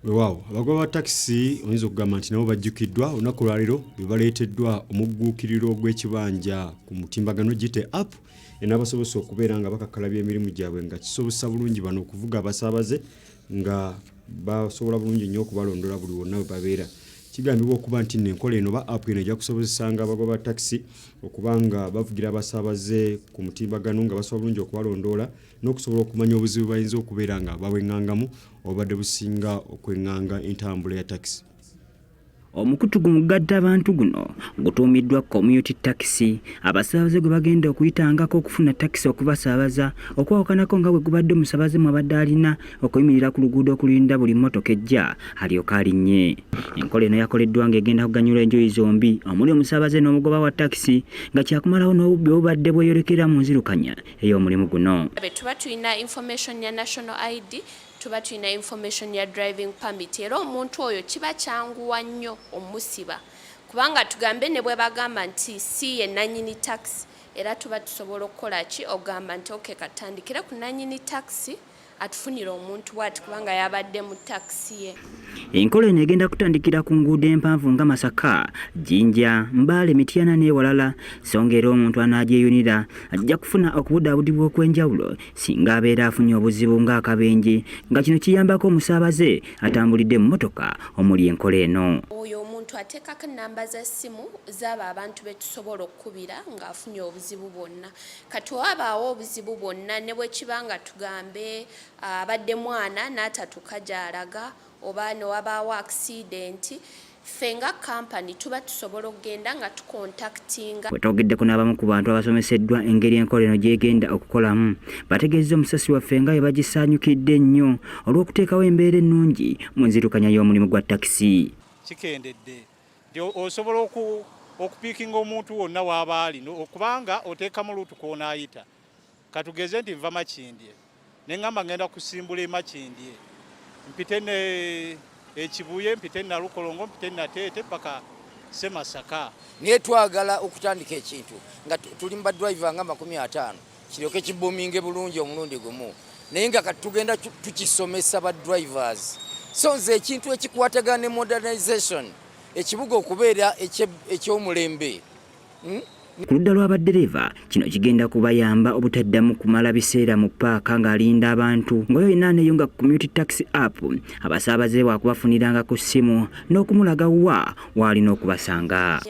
wewaawo abagoba ba takisi oyinza okugamba nti nabo bajjukiddwa olunaku lwaleero bebaleeteddwa omugguukiriro gw'ekibanja ku mutimbagano gite app enabasobose okubeera nga bakakkalabya emirimu gyabwe nga kisobozesa bulungi bano okuvuga abasaabaze nga basobola bulungi nnyo okubalondola buli wonna we babeera kigambibwa okuba nti nno enkola eno ba app eno ejja kusobozesanga abagoba takisi okuba nga bavugira abasaabaze ku mutimbagano nga basobola bulungi okubalondoola n'okusobola okumanya obuzibu bayinza okubeera nga babweng'angamu obubadde businga okweng'anga entambula ya takisi omukutu gu mugadde abantu guno gutuumiddwa community takisi abasaabaze gwe bagenda okuyitangako okufuna takisi okubasaabaza okwawukanako nga bwe gubadde omusaabaze mwabadde alina okuyimirira ku luguudo okulinda buli mmotoka ejja alyoka alinnye enkola eno yakoleddwa ng'egenda kuganyula enjuyi zombi omuli omusaabaze n'omugoba wa takisi nga kyakumalawo n'obubbi obubadde bweyolekera mu nzirukanya ey'omulimu guno. Tuba tulina information ya national ID, tuba tulina information ya driving permit era omuntu oyo kiba kyanguwa nnyo omusiba kubanga tugambe ne bwe bagamba nti si ye nanyini taxi era tuba tusobola okukola ki ogamba nti oke katandikire ku nanyini taxi atufunire omuntu bwati kubanga yabadde mu takisi ye enkola eno egenda kutandikira ku nguudo empanvu nga masaka jinja mbaale mityana n'ewalala songa era omuntu anaagyeyunira ajja kufuna okubudaabudibwa okw'enjawulo singa abeera afunye obuzibu ng'akabenje nga kino kiyambako omusaabaze atambulidde mu mmotoka omuli enkola eno oyo omuntu ateekako ennamba za ssimu zaabo abantu be tusobola okukubira ng'afunye obuzibu bwonna kati wabaawo obuzibu bwonna ne bwe kiba nga tugambe abadde mwana n'atatuka gy'alaga oba ne wabaawo akisidenti ffe nga kampani tuba tusobola okugenda nga tukontaktinga wetwogeddeko n'abamu ku bantu abasomeseddwa engeri enkola eno gyegenda okukolamu bategeezza omusasi waffe nga webagisaanyukidde ennyo olw'okuteekawo embeera ennungi mu nzirukanya y'omulimu gwa takisi kikendedde nti osobola okupiikinga omuntu wonna waaba ali okubanga oteekamu luutu kwonaayita katugeze nti nva makindye neŋamba ngenda kusimbula emakindye mpite ne ekibuye mpite nalukolongo mpite nateete paka semasaka naye twagala okutandika ekintu nga tuli mubadrive nga makumi ataano kiryoke kibuminge bulungi omulundi gumu naye nga kati tugenda tukisomesa ba drivers so nze ekintu ekikwatagana ne modernization ekibuga okubeera ekyomulembe hmm? ku ludda lwa baddereeva kino kigenda kubayamba obutaddamu kumala biseera mu paaka ng'alinda abantu ngaoyo yina aneeyo nga community taxi app abasaabaze wakubafuniranga ku ssimu n'okumulaga wa waalina okubasanga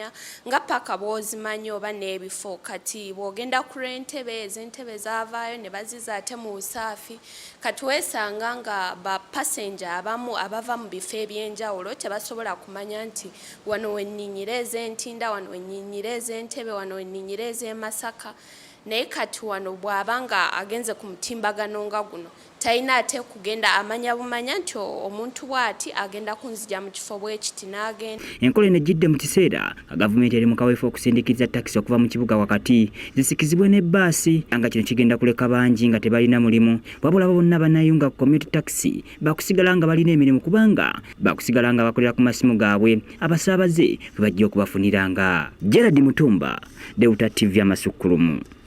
nga paka bwozimanyi oba n'ebifo kati bwogenda ku lw'entebe ez'entebe zavaayo ne baziza ate mu busaafi kati weesanga nga ba passenger abamu abava mu bifo eby'enjawulo tebasobola kumanya nti wano wenninyira ez'entinda wano wenninyira ez'entebe wano wenninyira ez'emasaka naye kati wano bw'aba nga agenze ku mutimbagano nga guno Talina ate kugenda amanya bumanya nti omuntu bw'ati agenda kunzija mu kifo bwe kiti n'agenda. Enkola eno ejjidde mu kiseera nga gavumenti eri mu kaweefube okusindikiriza takisi okuva mu kibuga wakati zisikizibwe ne bbaasi nga kino kigenda kuleka bangi nga tebalina mulimu wabula abo bonna banayunga ku community takisi bakusigala nga balina emirimu kubanga bakusigala nga bakolera ku masimu gaabwe abasaabaze bwe bajja okubafuniranga. Gerald Mutumba, Deuta TV Amasukkulumu.